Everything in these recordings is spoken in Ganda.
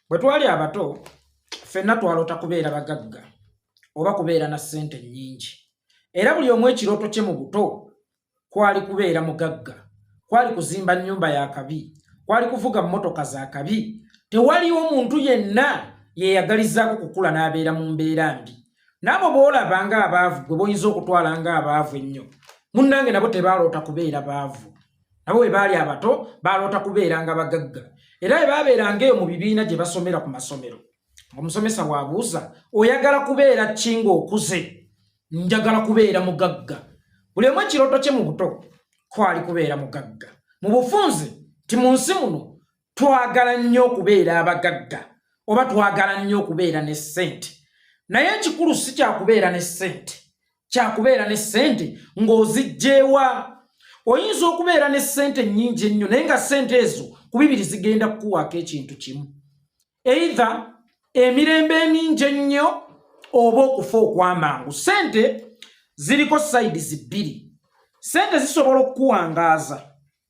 Bwe twali abato, ffenna twaloota kubeera bagagga oba kubeera na ssente nnyingi. Era buli omu ekirooto kye mu buto kwali kubeera mugagga, kwali kuzimba nnyumba ya kabi, kwali kuvuga mmotoka za kabi. Tewaliwo muntu yenna yeeyagalizaako kukula n'abeera mu mbeera mbi. N'abo b'olaba ng'abaavu gwe boyinza okutwala ng'abaavu ennyo, munnange nabo tebaaloota kubeera baavu. nabo bwe baali abato baaloota kubeeranga bagagga era bwe baabeeranga eyo mu bibiina gye basomera ku masomero omusomesa waabuuza oyagala kubeera ki ng'okuze njagala kubeera mugagga buli omu ekirooto kye mu buto kwali kubeera mugagga mu bufunzi nti mu nsi muno twagala nnyo okubeera abagagga oba twagala nnyo okubeera ne ssente naye ekikulu si kyakubeera ne ssente kyakubeera ne ssente ng'ozijjeewa oyinza okubeera ne ssente nnyingi ennyo naye nga ssente ezo ku bibiri zigenda kukuwaako ekintu kimu eitha emirembe emingi ennyo oba okufa okw'amangu ssente ziriko sayidi zibbiri ssente zisobola okukuwangaaza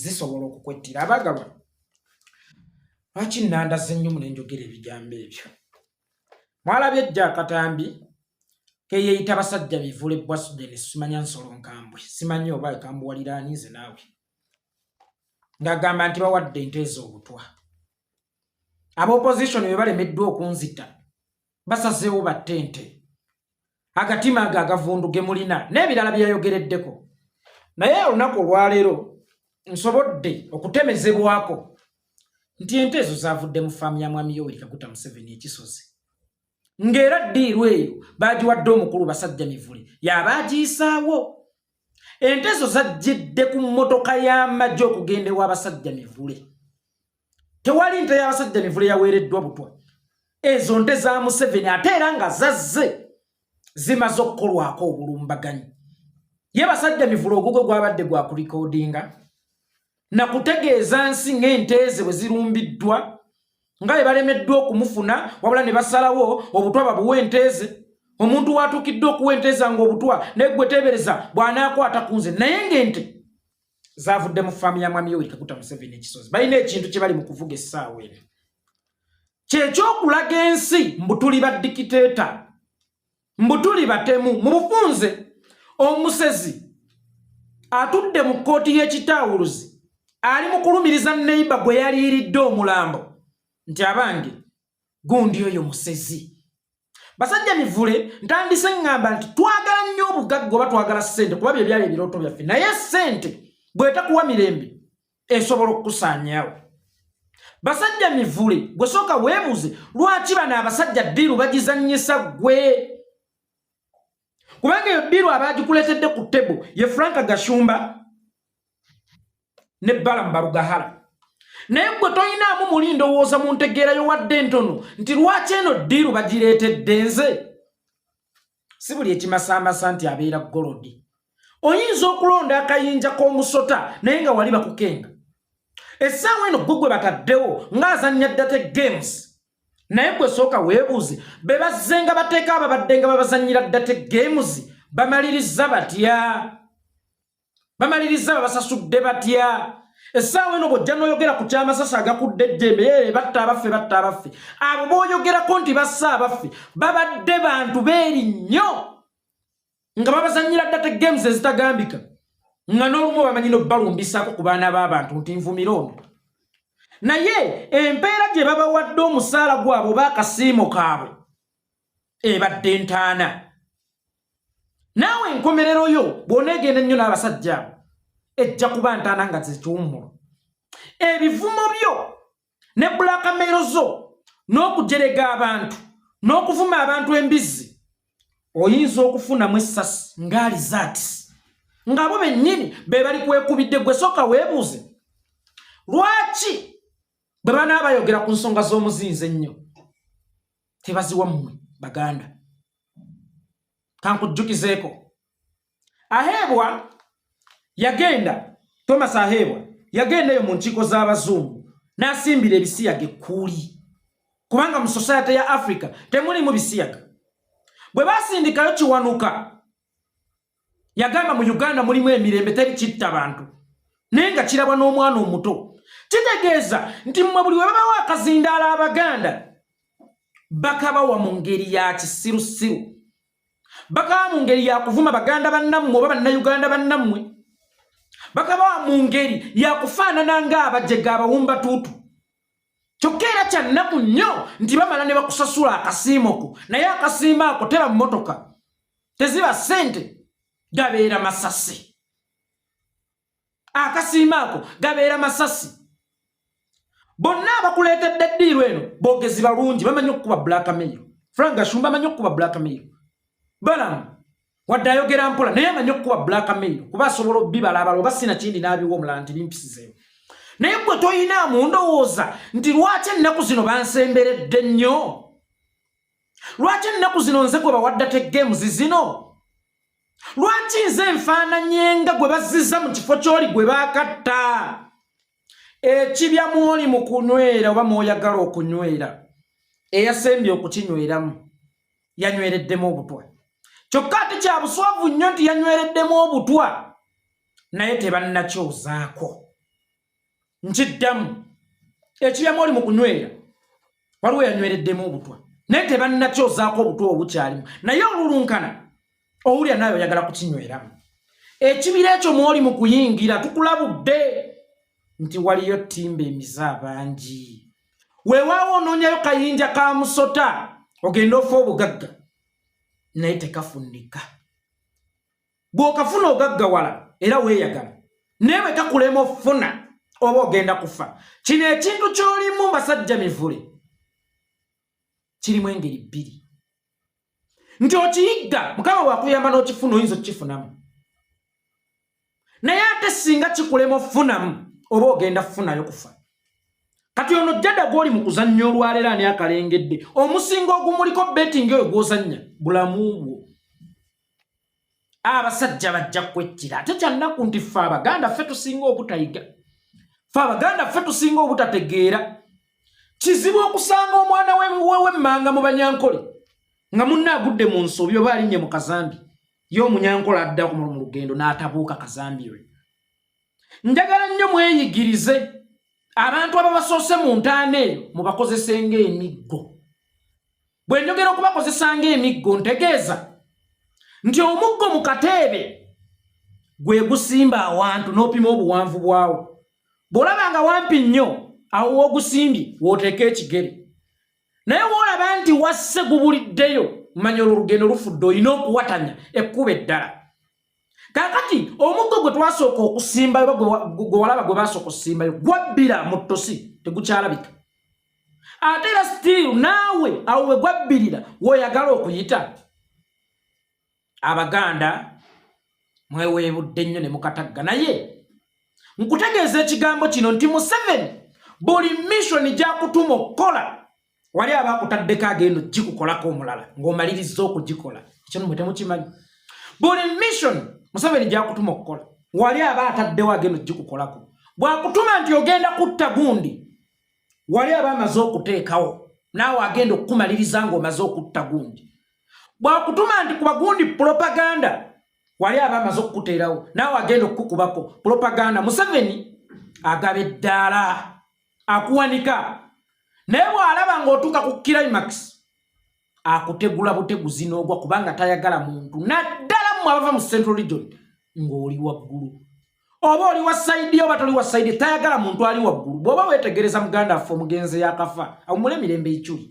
zisobola okukwettira abagalwa lwaki nandaze nnyo mune njogera ebigambo ebyo mwalabye ejja akatambi keyeyita basajja bivule bwasudeni simanya nsolo nkambwe simanyi oba ekambuwaliraanize naawe ng'agamba nti bawadde ente ez'obutwa abaopposition be balemeddwa okunzita basazeewo batte ente agatima ago agavundu ge mulina n'ebirala byeyayogereddeko naye olunaku olwaleero nsobodde okutemezebwako nti ente ezo zavudde mu faamu ya mwami yoweri kaguta museveni ekisozi ng'era ddiiru eyo baagiwadde omukulu basajja mivule yaba agiyisaawo ente ezo zajjidde ku mmotoka y'amagye okugenda ew'abasajja mivule tewali nte y'abasajja mivule yaweereddwa butwa ezo nte za museveni ate era nga zazze zimaze okukolwako obulumbaganyi ye basajja mivule ogugo gwabadde gwa kurikodinga na kutegeeza nsi ng'ente ze bwe zirumbiddwa nga bwe balemeddwa okumufuna wabula ne basalawo obutwa babuwa ente ze omuntu watuukidde okuwa ente zange obutwa naye gwe teebereza bw'anaakwata ku nze naye ng'ente zavudde mu faamu ya mwami yoweri kaguta museveni ekisozi balina ekintu kye bali mu kuvuga essaawa eno kyekyokulaga ensi mbu tuli badikiteeta mbu tuli batemu mu bufunze omusezi atudde mu kkooti y'ekitaawuluzi ali mu kulumiriza neiba gwe yaliiridde omulambo nti abange gundi oyo musezi basajja mivule ntandise ngamba nti twagala nnyo obugagga oba twagala sente kuba bye byali ebirooto byaffe naye sente bwetakuwa mirembe esobola okukusaanyawo basajja mivule gwe sooka weebuze lwaki bano abasajja ddiiru bagizannyisa gwe kubanga eyo ddiru abagikuleetedde ku tebo ye frank gashumba ne balamu barugahala naye gwe toyinaamu muli ndowooza mu ntegeerayo wadde ntono nti lwaki eno ddiru bagireetedde nze si buli ekimasaamasa nti abeera golodi oyinza okulonda akayinja k'omusota naye nga wali bakukenga essaawa eno gwe gwe bataddewo ng'azannya date games naye gwe sooka weebuuze be bazze nga bateeka ababadde nga babazannyira ddate games bamaliriza batya bamaliriza babasasudde batya essaawa eno bwojja noyogera ku kyamasasi agakudde ejjembe ee batta abaffe batta abaffe abo boyogerako nti bassa abaffe babadde bantu beeri nnyo nga babazanyira data games ezitagambika nga n'olumu bamanyi nobalumbisako ku baana b'abantu nti nvumira ono naye empeera gye babawadde omusaala gwabwe oba akasiimo kaabwe ebadde ntaana naawe enkomerero yo bw'oneegenda ennyo n'abasajja abo ejja kuba ntaana nga zekiwummulo ebivumo byo ne bulakamero zo n'okujerega abantu n'okuvuma abantu embizzi oyinza okufunamu essasi ngaali zaati ng'abo bennyini be bali kwekubidde gwe sooka weebuuze lwaki bwe banaaba bayogera ku nsonga z'omuzinzi ennyo tebaziwa mmwe baganda kankujjukizeeko Aheebwa yagenda Thomas Aheebwa yagendayo mu nkiiko z'abazungu n'asimbira ebisiyaga ekkuuli kubanga mu sosayete ya Afrika temulimu bisiyaga. Bwe baasindikayo Kiwanuka yagamba mu Uganda mulimu emirembe teri kitta bantu naye nga kirabwa n'omwana omuto. Kitegeeza nti mmwe buli we babawo akazindaala Abaganda bakabawa mu ngeri ya kisirusiru. bakaba mu ngeri yakuvuma baganda bannammwe oba bannayuganda bannammwe bakaba mu ngeri yakufaanana ng'abajega abawumba tuutu kyokka era kyannaku nnyo nti bamala ne bakusasula akasiimo ko naye akasiimo ako teba mmotoka teziba ssente gabeera masasi akasiima ako gabeera masasi bonna abakuleetedde ddiiru eno boogezi balungi bamanyi okukuba black mail frank gashumba amanyi okukuba black mail balamu wadde ayogera mpola naye amanyi okukuba black mail kuba asobola obibala abala oba sina kindi n'abiwa omulala nti bimpisizeewo naye gwe tolina mundowooza nti lwaki ennaku zino bansemberedde nnyo lwaki ennaku zino nze gwe bawadda te games zino lwaki nze enfaananyenga gwe bazziza mu kifo ky'oli gwe baakatta ekibya mwoli mu kunywera oba mwoyagala okunywera eyasembye okukinyweramu yanywereddemu obutwa kyokka ate kya buswavu nnyo nti yanywereddemu obutwa naye tebannakyozaako nkiddamu ekiyama oli mu kunywera waliwo yanywereddemu obutwa naye tebannakyozaako obutwa obukyalimu naye olulunkana owulira naawe oyagala kukinyweramu ekibira ekyo mwoli mu kuyingira tukulabudde nti waliyo timba emize abangi weewaawo onoonyayo kayinja ka musota ogenda ofa obugagga naye tekafunika bw'okafuna ogaggawala era weeyagala naye bwe kakulema ofuna oba ogenda kufa kino ekintu ky'olimu basajja mivule kirimu engeri bbiri nti okiyigga mukama bwakuyamba n'okifuna oyinza okukifunamu naye ate singa kikulema ofunamu oba ogenda kufunayo kufa kati ono jjada gwoli mu kuzannya olwaleero ani akalengedde omusinga ogumuliko betingi oyo gwozannya bulamu bwo abasajja bajja kwettira ate kyannaku nti ffe abaganda ffe tusinga obutayiga ffe abaganda ffe tusinga obutategeera kizibu okusanga omwana wewemmanga mu banyankole nga munna agudde mu nsobi oba alinnye mu kazambi ye omunyankole adda ku mulumu lugendo n'atabuuka kazambi lwe njagala nnyo mweyigirize abantu ababasoose mu ntaana eyo mubakozesenga emiggo Bwe njogera okubakozesa ng'emiggo ntegeeza nti omuggo mu kateebe gwe gusimba awantu n'opima obuwanvu bwawo. Bw'olaba nga wampi nnyo awo w'ogusimbye w'oteeka ekigere. Naye bw'olaba nti wasse gubuliddeyo manya olwo olugendo lufudde olina okuwatanya ekkuba eddala. kakati omuggo gwe twasooka okusimbayo gwe walaba gwe basooka okusimbayo gwabbira mu ttosi tegukyalabika ate era sitiiru naawe awo we gwabbirira woyagala okuyita abaganda mweweebudde nnyo ne mukatagga naye nkutegeeza ekigambo kino nti museveni buli missoni gyakutuma okukola wali aba akutaddeko agenda okugikukolako omulala ng'omaliriza okugikola ekyo nomwe temukimanyi buli mission museveni gyakutuma okukola wali aba ataddewo agenda okugikukolako bwakutuma nti ogenda kutta gundi wali aba amaze okuteekawo naawe agenda okukumaliriza ng'omaze okutta gundi bwakutuma nti kuba gundi propaganda wali aba amaze okukuteerawo naawe agenda okukukubako propaganda museveni agaba eddaala akuwanika naye bw'alaba ng'otuuka ku climax akutegula buteguzi n'ogwa kubanga tayagala muntu naddala mu abava mu central region ng'oli waggulu oba oli wa saidi oba toli wa saidi tayagala muntu ali waggulu bw'oba weetegereza muganda affe omugenzi yakafa awumula emirembe iculi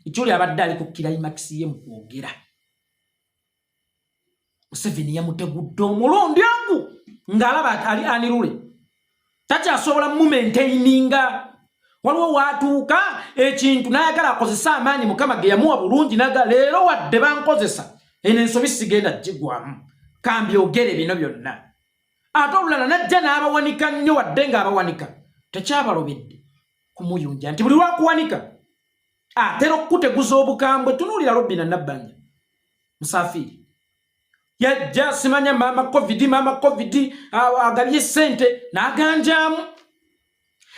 iculi abadde ali ku climax ye mu kwogera museveni yamutegudde omulundi ogu ng'alaba ali anirule takyasobola mumentaininga waliwo waatuuka ekintu n'ayagala akozese amaanyi mukama ge yamuwa bulungi naga leero wadde bankozesa eno ensobi sigenda kigwamu kambyogere bino byonna ate olulala najja n'abawanika nnyo wadde ng'abawanika tekyabalobedde kumuyunja nti buli lwakuwanika atera okukuteguza obukambwe tunuulira robina nabbanja musafiri yajja simanya maama covid maama covid agabye sente naganjamu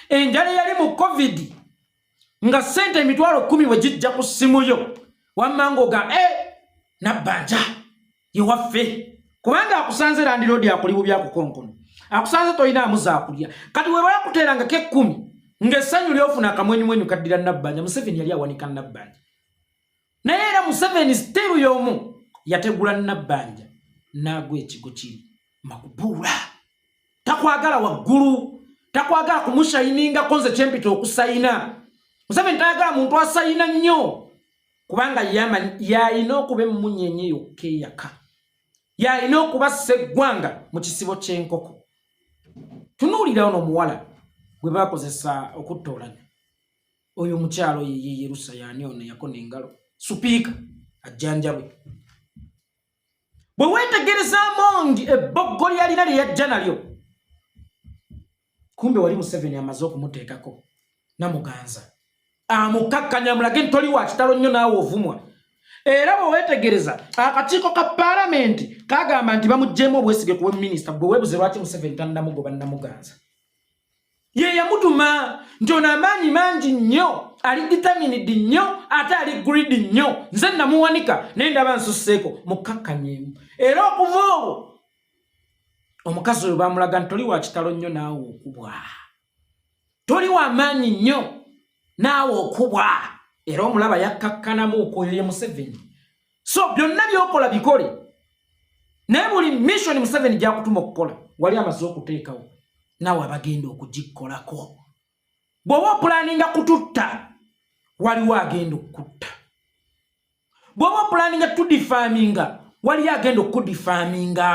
enjala eyali mu covid nga sente emitwalo kumi wegijja ku simu yo wammango ga e eh, nabbanja ye waffe kubanga akusanze landiroodi akuli bubi akukonkono akusanze tolina amuza akulya kati weba yakuteeranga ke kkumi ng'essanyu lyofuna akamwenyumwenyu kaddira nabbanja museveni yali awanika nabbanja naye era museveni siteru y'omu yategula nabbanja n'agwa ekigo kiri makubuula takwagala waggulu takwagala kumushayiningako nze kyempita okusayina museveni tayagala muntu asayina nnyo kubanga yamanyi yalina okuba emmunyenye yokka eyaka yalina okuba sseggwanga mu kisibo ky'enkoko tunuulira ono omuwala gwe bakozesa okuttoolanya oyo omukyalo yeye yerusa yani ono yakona engalo supiika ajjanjabwe bwe weetegereza amongi ebboggo lyalina lye yajja nalyo kumbe wali museveni amaze okumuteekako namuganza amukakkanya mulage nti toli wakitalo nnyo naawe ovumwa era bwewetegereza akakiiko ka palamenti kagamba nti bamugyemu obwesige kuwe minisita gwe webuze lwaki museveni tanamugoba namuganza ye yamutuma nti ono amaanyi mangi nnyo ali ditaminidi nnyo ate ali gridi nnyo nze namuwanika naye ndaba nsusseeko mukakkanyeemu era okuva olwo omukazi oyo bamulaga nti toli wa kitalo nnyo naawe okubwa toli wa maanyi nnyo naawe okubwa era omulaba yakkakkanamu okwoyo ye museveni so byonna byokola bikole naye buli missioni museveni gyakutuma okukola wali amaze okuteekawo naawe abagenda okugikkolako bw'oba opulaninga kututta waliwo agenda okukutta bw'oba opulaninga tudifaaminga waliyo agenda okukudifaaminga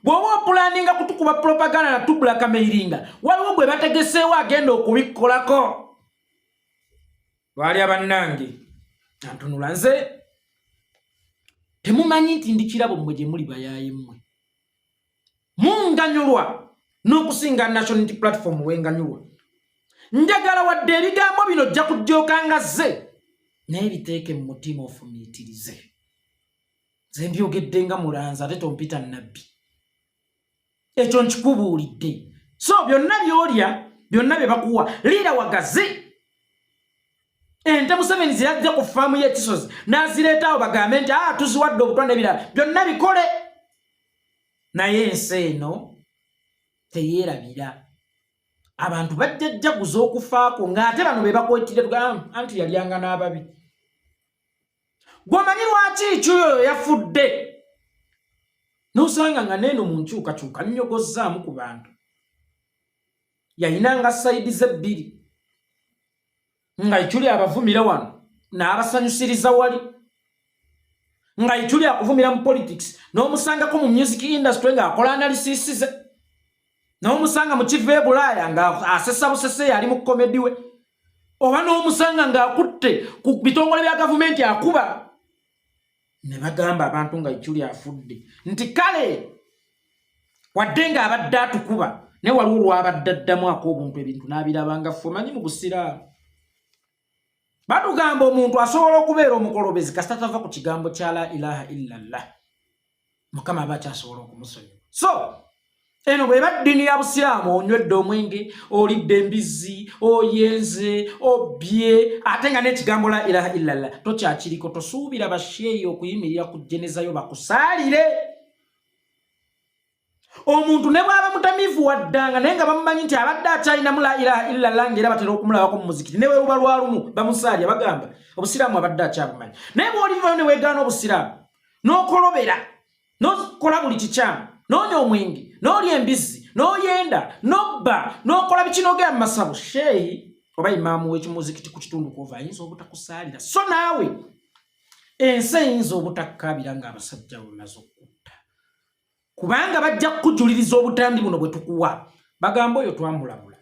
bw'oba opulaninga kutukuba propaganda na tubulakameiringa waliwo gwe bategeseewo agenda okubikkolako lwali abannange antunula nze temumanyi nti ndi kirabo mmwe gye muli bayaye mmwe munganyulwa n'okusinga national unity platform wenganyulwa njagala wadde ebigambo bino ojja kujjooka nga zze naye biteeke mu mutima ofumiitirize nze mbyogedde nga mulanzi ate tompita nabbi ekyo nkikubuulidde so byonna byolya byonna bye bakuwa liira wagazi ente museveni zeyajja ku faamu y'ekisozi n'azireetaawo bagambe nti a ah, tuziwadde obutwa n'ebirala byonna bikole naye ensi eno teyeerabira abantu bajja jjaguza okufaako ng'ate bano be bakwetire ah, anti yalyanga n'ababi gwomanyi lwaki ekyoyo yafudde nosanga nga neeno mu nkyukakyuka nyogozzaamu ku bantu yayinanga sayidi ze bbiri nga ituli abavumira wano n'abasanyusiriza wali nga ituli akuvumira mu politics n'omusangako mu music industry ng'akola analisisize n'omusanga mu kiva e bulaaya ng'asesa busese yali mu komedi we oba n'omusanga ng'akutte ku bitongole bya gavumenti akuba ne bagamba abantu nga iculi afudde nti kale wadde ng'abadde atukuba ne waliwo lwabadde addamu ako obuntu ebintu n'abirabanga ffe omanyi mu busiraamu batugamba omuntu asobola okubeera omukolobezi kasita tava ku kigambo kya la ilaha illallah mukama aba akyasobola okumusonyiwa so eno bweba ddini ya busiraamu onywedde omwenge olidde embizzi oyenze obye ate nga n'ekigambo la ilaha illallah tokyakiriko tosuubira basheeyi okuyimirira ku jenezayo bakusaalire omuntu ne bwaba mutamivu waddanga naye nga bamumanyi nti abadde akyalinamu la ilaha illallah ngaera batera okumulabako mu muzikiti ne webuba lwalumu bamusaalya bagamba obusiraamu abadde akyabumanyi naye bwolivayo ne wegaana obusiraamu n'okolobera n'okola buli kikyamu n'onya omwenge n'olya embizzi n'oyenda n'obba n'okola bikinogera mu masabo sheeyi oba imaamu w'ekimuzikiti ku kitundu kwova ayinza obutakusaalira so naawe ensi eyinza obutakkaabira ng'abasajja bamaze okutta kubanga bajja kukujuliriza obutambi buno bwe tukuwa bagamba oyo twamulabula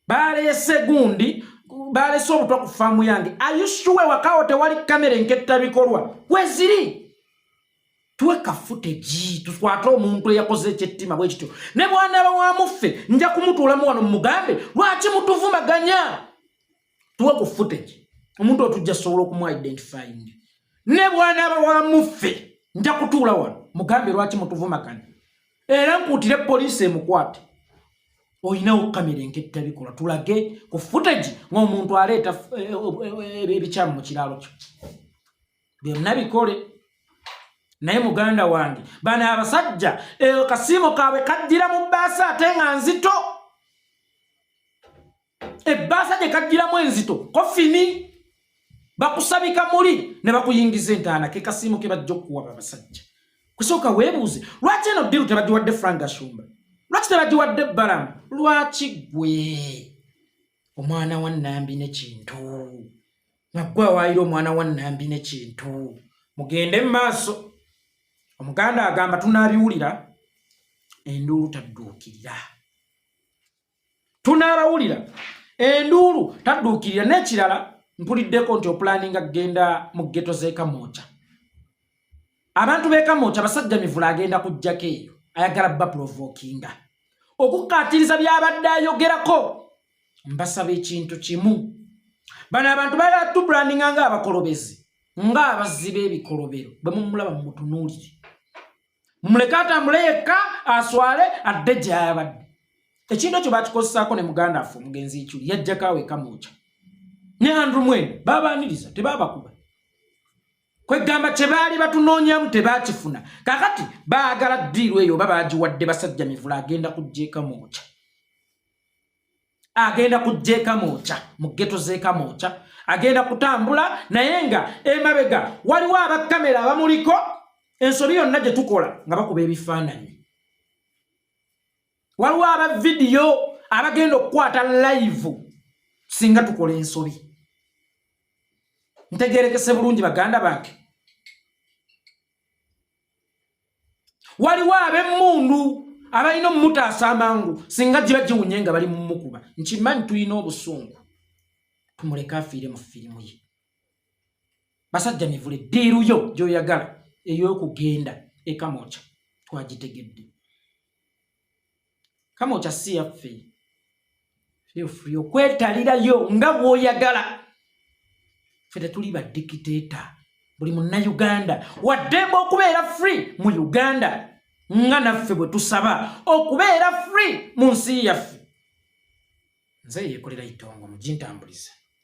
baleese gundi baleese obutwa ku faamu yange ayusuwe wakawo tewali kamera enketta bikolwa weziri twekafute gi tukwate omuntu eyakoze ekyettima bwe kityo ne bwanaba wa muffe nja kumutuulamu wano mumugambe lwaki mutuvumaganya tuwe ku footage omuntu otujja sobola okumu identifying ne bwanaba wa muffe nja kutuula wano mugambe lwaki mutuvumaganya era nkuutire poliisi emukwate olinawo kamera enketta bikola tulage ku footage ng'omuntu aleeta eh, eh, eh, ebikyamu mu kiraalo kyo byonna bikole naye muganda wange bano abasajja kasiimo kaabwe kaddira mu bbaasi ate nga nzito ebbaasa gye kajjiramu enzito kofini bakusabika muli ne bakuyingiza entaana ke kasiimu ke bajja okukuwa babasajja kusooka weebuuze lwaki eno ddiru tebagiwadde frank ashumba lwaki tebagiwadde balamu lwaki gwe omwana wa nambi nekintu naggwe awaayira omwana wa nambi nekintu mugende mu maaso omuganda agamba tunaabiwulira enduulu tadduukirira tunaabawulira enduulu tadduukirira n'ekirala mpuliddeko nti opulaninga kugenda mu geto z'ekamooca abantu b'ekamooca abasajja mivula agenda kujjako eyo ayagala bapulovokinga okukkaatiriza by'abadde ayogerako mbasaba ekintu kimu bano abantu balatubulaninga ng'abakolobezi ng'abazzi b'ebikolobero bwe mumulaba mumutunuulire mumuleke atambule yekka aswale adde gyayabadde ekintu ekyo bakikozesaako ne muganda affe omugenzi ikyuli yajjako awo ekamwokya ne andrew mwene babaniriza tebabakuba kwegamba kyebaali batunoonyamu tebakifuna kakati baagala ddiiru eyo oba baagiwadde basajja mivula agenda kujja ekamwokya agenda kujja ekamooca mu geto z'ekamooca agenda kutambula naye nga emabega waliwo abakamera abamuliko ensobi yonna gye tukola nga bakuba ebifaananyi waliwo aba vidiyo abagenda okukwata layivu singa tukola ensobi ntegerekese bulungi baganda bange waliwo ab'emmundu abalina omumutaasa amangu singa giba giwunye nga bali mumukuba nkimanyi tulina obusungu tumuleke afiire mu firimu ye basajja mivule ddiiru yo gyoyagala ey'okugenda ekamoca twagitegedde kama okyasiya ffe feel free okwetalirayo nga bwoyagala ffe tetuli badikiteeta buli munnauganda waddemba okubeera free mu uganda nga naffe bwe tusaba okubeera free mu nsi yaffe nze yekolera itongo mugintambuliza